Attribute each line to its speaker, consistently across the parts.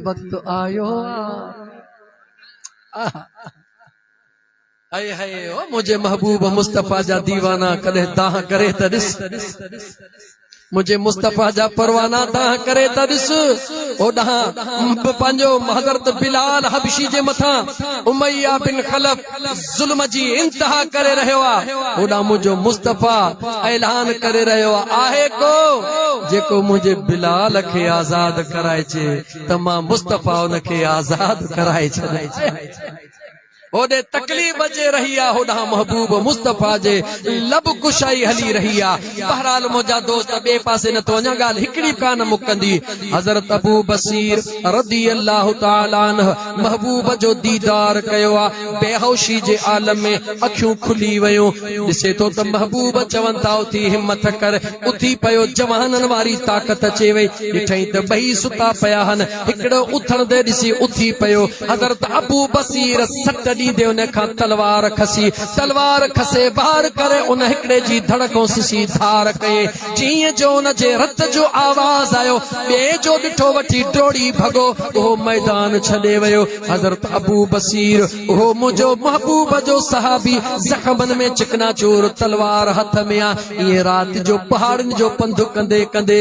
Speaker 1: وقت آيو آ هائي هائي او منهنجي محبوب مصطفي جا ديوانا ڪڏهن دانهن ڪري ته ڏس منهنجي مصطفي جا پروانا دانهن ڪري ته ڏس او ڏانهن پنهنجو حضرت بلال حبشي جي مٿان اميه بن خلف ظلم جي انتها ڪري رهيو آ هوڏانهن منهنجو مصطفيٰ اعلان ڪري رهيو آهي ڪو جيڪو منهنجي بلال کي آزاد ڪرائجي ته مان مصطفيٰ ان کي آزاد ڪرائي ڇڏيندس هوڏي تڪليف اچي رهي آ هوڏانهن محبوب مصطفيٰ جي لب ڪشائي هلي رهي آ. بهرحال منهنجا دوست ٻئي پاسي نه ٿو وڃان ڳالهه هڪڙي به ڪانه مڪندي حضرت ابو بصير رضي الله تعالٰي عنه محبوب جو ديدار ڪيو آ بيهوشي جي عالم ۾ اکيون کلي ويون ڏسي ٿو ته محبوب چون ٿا اٿي همٿ ڪر اٿي پيو جوانن واري طاقت اچي وئي ڏٺئين ته ٻئي ستا پيا هن هڪڙو اٿڻدي ڏسي اٿي پيو. حضرت ابو بصير سٽ ڏيندي ان کان تلوار کسي. تلوار کسي وار ڪري ان هڪڙي جي ڌڙ کان سسي ڌار ڪيئي. جيئن جو ان جي رت جو آواز آيو، ٻئي جو ڏٺو وٺي ڊوڙي ڀڳو. اهو ميدان ڇڏي ويو. حضرت ابو بصير، اهو منهنجو محبوب جو صحابي زخمن ۾ چڪناچور تلوار هٿ ۾ آ. ائين رات جو پهاڙين جو پنڌ ڪندي ڪندي.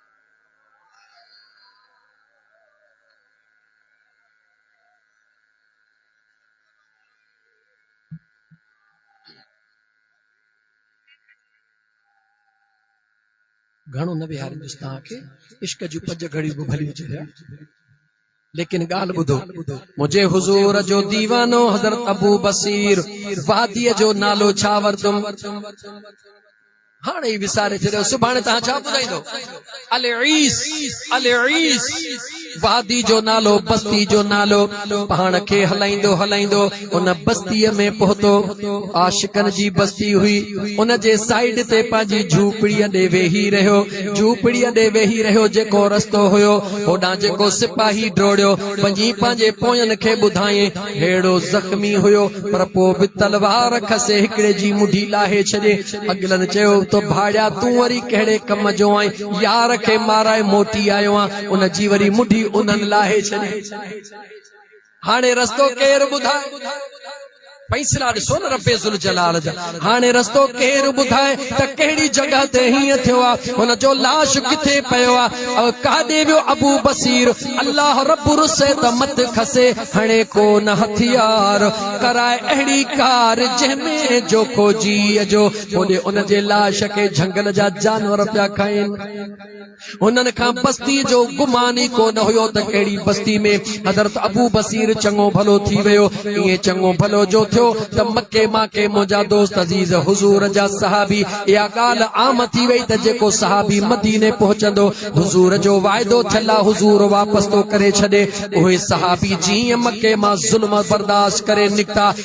Speaker 1: گهڻو نه ويهاريندس توهان کي عشق جون پنج گهڙيون به ڀليون ٿينديون ليڪن ڳالهه ٻڌو، منهنجي حضور جو ديوانو حضرت ابو بصير واديء جو نالو ڇا وردم؟ هاڻ ئي وساري ڇڏيو، سڀاڻي توهان ڇا ٻڌائيندو؟ العيس، العيس، وادي جو نالو، بستي جو نالو، پاڻ کي هلائيندو هلائيندو، ان بستيء ۾ پهتو. عاشقن جي بستي هئي. ان جي سائيڊ تي پنهنجي جهوپڙيء ڏي ويهي رهيو. جهوپڙيء ڏي ويهي رهيو جيڪو رستو هيو، هوڏانهن جيڪو سپاهي ڊوڙيو وڃي پنهنجي پوين کي ٻڌائين. ههڙو زخمي هيو، پر پوء به تلوار کسي هڪڙي جي مڍي لاهي ڇڏي. اڳلن چيو ته ڀاڙيا تون وري ڪهڙي ڪم جو آهين؟ يار کي مارائي موٽي آيو آهيان. ان جي وري مڍي انهن لاهي ڇڏي. هاڻي رستو ڪير ٻڌائي فيصلا ڏسو نه رب ذوالجلال جا هاڻي رستو ڪير ٻڌائي ته ڪهڙي جڳهه تي هيئن ٿيو آهي هن جو لاش ڪٿي پيو آهي او ڪاڏي ويو ابو بصير الله رب رسي ته مت کسي هڻي ڪو نه هٿيار ڪرائي اهڙي ڪار جنهن ۾ جو کو جي جو هوڏي ان جي لاش کي جهنگل جا جانور پيا کائين هنن کان بستي جو گمان ئي ڪو نه هيو ته ڪهڙي بستي ۾ حضرت ابو بصير چڱو ڀلو ٿي ويو. ائين چڱو ڀلو جو ٿيو ته مڪي ماڪي منهنجا دوست عزيز حضور جا صحابي اها ڳالهه عام ٿي وئي ته جيڪو صحابي مديني پهچندو حضور جو واعدو ٿيل آ حضور واپس ٿو ڪري ڇڏي. اهي صحابي جيئن مڪي مان ظلم برداشت ڪري نڪتا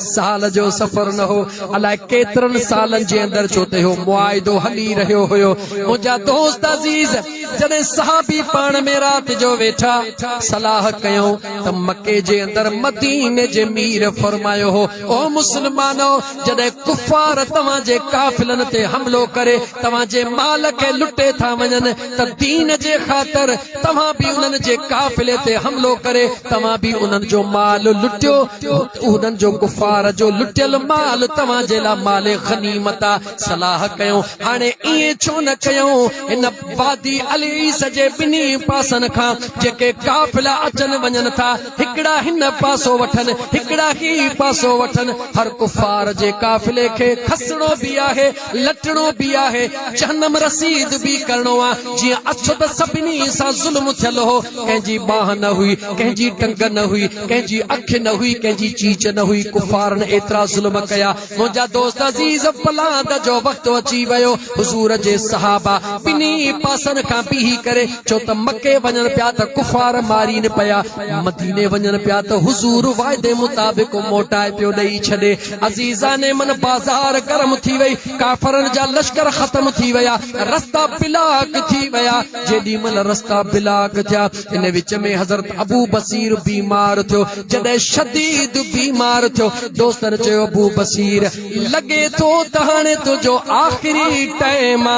Speaker 1: سال جو سفر نه هو، الاء ڪيترن سالن جي اندر جو ته اهو معاهدو هلي رهيو هيو. منهنجا دوست عزيز جڏهن صحابي پاڻ ۾ رات جو ويٺا، صلاح ڪيائون ته مڪي جي اندر مديني جي مير فرمايو هو، او مسلمانؤ! جڏهن ڪفار توهان جي قافلن تي حملو ڪري توهان جي مال کي لٽي ٿا وڃن ته دين جي خاطر توهان به انهن جي قافلي تي حملو ڪري توهان به انهن جو مال لٽيو انهن جو ڪفار جو لٽيل مال توهان جي لاء مال غنيمت آ. صلاح ڪيو، هاڻي ائين ڇو نه ڪيو؟ هن وادي العيس جي ٻنهي پاسن کان جيڪي قافلا اچن وڃن ٿا، هڪڙا هن پاسو وٺن، هڪڙا هي پاسو وٺن. هر ڪفار جي قافلي کي کسڻو به آهي. لٽڻو به آهي، جهنم رسيد به ڪرڻو آ، جيئن اڇ ته سڀني سان ظلم ٿيل هو، ڪنهن جي ٻانهن نه هئي، ڪنهن جي ٽنگ نه هئي، ڪنهن جي اک نه هئي، ڪنهن جي چيچ نه هئي، ڪفارن ايترا ظلم ڪيا، منهنجا دوست عزيز پلاند جو وقت اچي ويو، حضور جي صحابه ٻنهي پاسن کان بيهي ڪري ڇو ته مڪي وڃن پيا ته ڪفار مارين پيا، مديني وڃن پيا ته حضور وعدي مطابق موٽائي پيو ڏئي ڇڏي، عزيزان من بازار گرم ٿي وئي، ڪافرن جا لشڪر ختم ٿي ويا، رستا بلاڪ ٿي ويا، جيڏي مھل رستا بلاڪ ٿيا، ان وچ ۾ حضرت ابو بصير بيمار ٿيو، جڏھن شديد بيمار ٿيو، دوستن چيو ابو بصير! لڳي ٿو ته ھاڻي تنھنجو آخري ٽئم آ،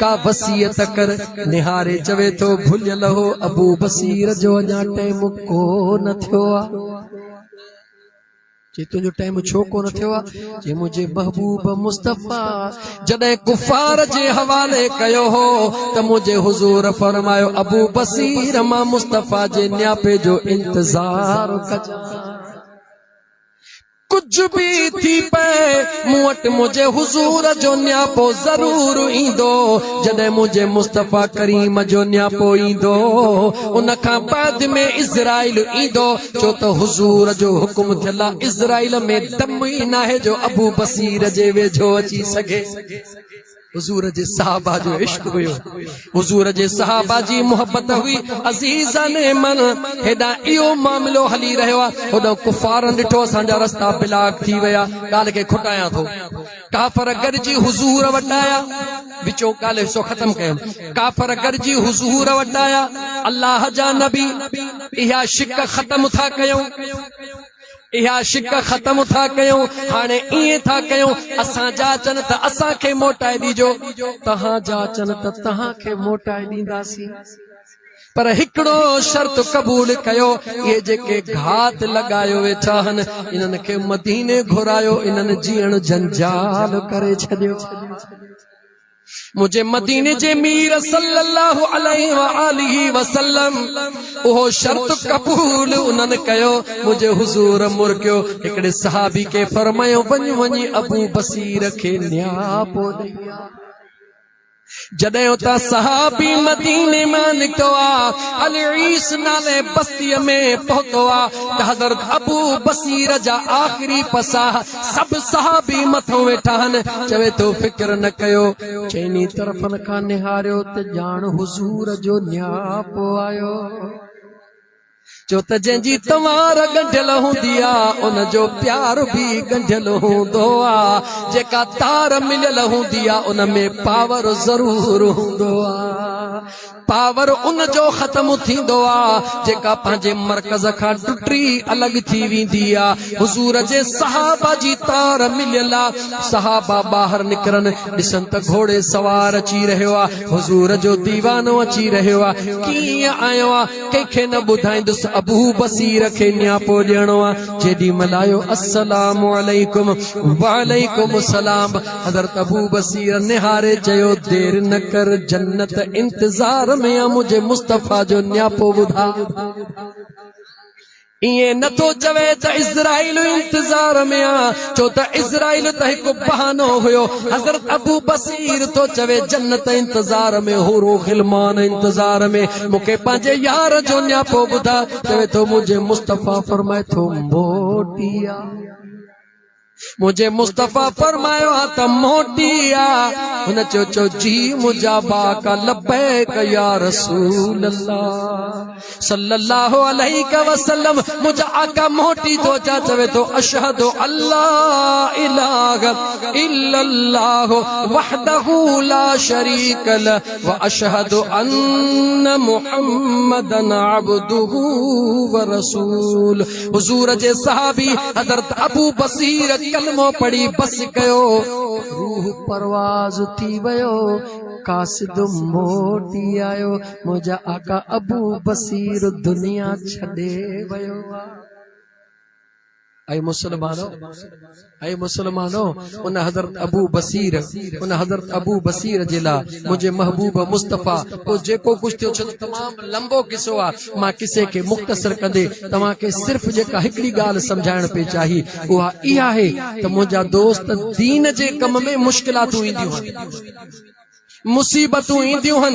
Speaker 1: ڪا وصيت ڪر، نھاري چوي ٿو ڀڃل ھو ابو بصير جو اڃا ٽئم ڪو نه ٿيو آ. چي تنهنجو ٽائيم ڇو ڪونه ٿيو آ چي منهنجي محبوب مصطفي جڏهن ڪفار جي حوالي ڪيو هو ته منهنجي حضور فرمايو ابو بصير مان مصطفي جي نياپي جو انتظار ڪجان ڪجھ به ٿي پئي مون وٽ منهنجي حضور جو نياپو ضرور ايندو جڏهن منهنجي مصطفيٰ ڪريم جو نياپو ايندو ان کان بعد ۾ اسرائيل ايندو ڇو ته حضور جو حڪم ٿيل آ اسرائيل ۾ دم ئي ناهي جو ابو بصير جي ويجهو اچي سگهي. حضور جي صحابه جو عشق هيو. حضور جي صحابه جي محبت هئي. عزيزان من هيڏانهن اهو معاملو هلي رهيو آ هوڏانهن ڪفارن ڏٺو اسان جا رستا بلاڪ ٿي ويا. ڳالهه کي کٽايان ٿو. ڪافر گڏجي حضور وٽ آيا وچو ڳالهه حصو ختم ڪيم ڪافر گڏجي حضور وٽ آيا الله جا نبي اها شڪ ختم ٿا ڪيون اها شڪ ختم ٿا ڪيون هاڻي ايئن ٿا ڪيون اسان جا چن ته اسان کي موٽائي ڏيجو تهان جا چن ته تهان کي موٽائي ڏينداسين پر هڪڙو شرط قبول ڪيو، اهي جيڪي گهات لڳايو ويٺا هن، انهن کي مديني گهرايو، انهن جيئڻ جنجال ڪري ڇڏيو. منهنجي مديني جي مير صلّي اللّٰه عليه واٰله وسلّم اهو شرط قبول انهن ڪيو، منهنجي حضور مرڪيو، هڪڙي صحابي کي فرمايو، وڃ وڃي ابو بصير کي نياپو ڏئي آ. جڏهن اتان صحابي مديني مان نڪتو آ، العيس نالي بستيء ۾ پهتو آ ته حضرت ابو بصير جا آخري پساهه سڀ صحابي مٿو ويٺا هن. چوي ٿو فڪر نه ڪيو. چئني طرفن کان نهاريو ته ڄاڻ حضور جو نياپو آيو. ڇو ته جنهن جي تنوار ڳنڍيل هوندي آ، ان جو پيار به ڳنڍيل هوندو آ. جيڪا تار مليل هوندي آ، ان ۾ پاور ضرور هوندو آ. پاور ان جو ختم ٿيندو آ، جيڪا پنهنجي مرڪز کان ٽٽي الڳ ٿي ويندي آ. حضور جي صحابه جي تار مليل آ. صحابه ٻاهر نڪرن، ڏسن ته گهوڙي سوار اچي رهيو آ. حضور جو ديوانو اچي رهيو آ. ڪيئن آيو آ؟ ڪنهن کي نه ٻڌائيندس ابو بصير کي نياپو ڏيڻو آ جيڏي مهل آيو السلام عليڪم وعليڪم السلام حضرت ابو بصير نهاري چيو دير نه ڪر جنت انتظار ۾ آ منهنجي مصطفي جو نياپو ٻڌاء ائين نه ٿو چوي ته اسرائيل انتظار ۾ آ ڇو ته اسرائيل ته هڪ بهانو هيو حضرت ابو بصير ٿو چوي جنت انتظار ۾ حور و غلمان انتظار ۾ مون کي پنهنجي يار جو نياپو ٻڌاء چوي ٿو منهنجي مصطفي فرمائي ٿو موٽي آ منهنجي مصطفيٰ فرمايو ها ته موٽي آ. هن چيو چؤ جي منهنجا باڪا لبيڪ يا رسول الله صلّي الله عليه وسلّم منهنجا آقا موٽي ٿو اچان چوي ٿو اشهد اللّٰه اله الا الله وحده لا شريڪ له واشهد ان محمّدا عبده ورسول حضور جي صحابي حضرت ابو بصير ڪلمو پڙهي بس ڪيو، روح پرواز ٿي ويو، قاصد موٽي آيو، منهنجا آقا ابو بصير دنيا ڇڏي ويو آ. اي مسلمانو! اي مسلمانو! ان حضرت ابو بصير، ان حضرت ابو بصير جي لاء منهنجي محبوب مصطفيٰ، پوء جيڪو ڪجهه ٿيو ڇڏ تمام لنبو قصو آ، مان قصي کي مختصر ڪندي توهان کي صرف جيڪا هڪڙي ڳالهه سمجهائڻ پئي چاهي اها اها آهي ته منهنجا دوست دين جي ڪم ۾ مشڪلاتون اينديون هن، مصيبتون اينديون هن،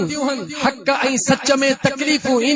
Speaker 1: حق ۽ سچ ۾ تڪليفون اينديون.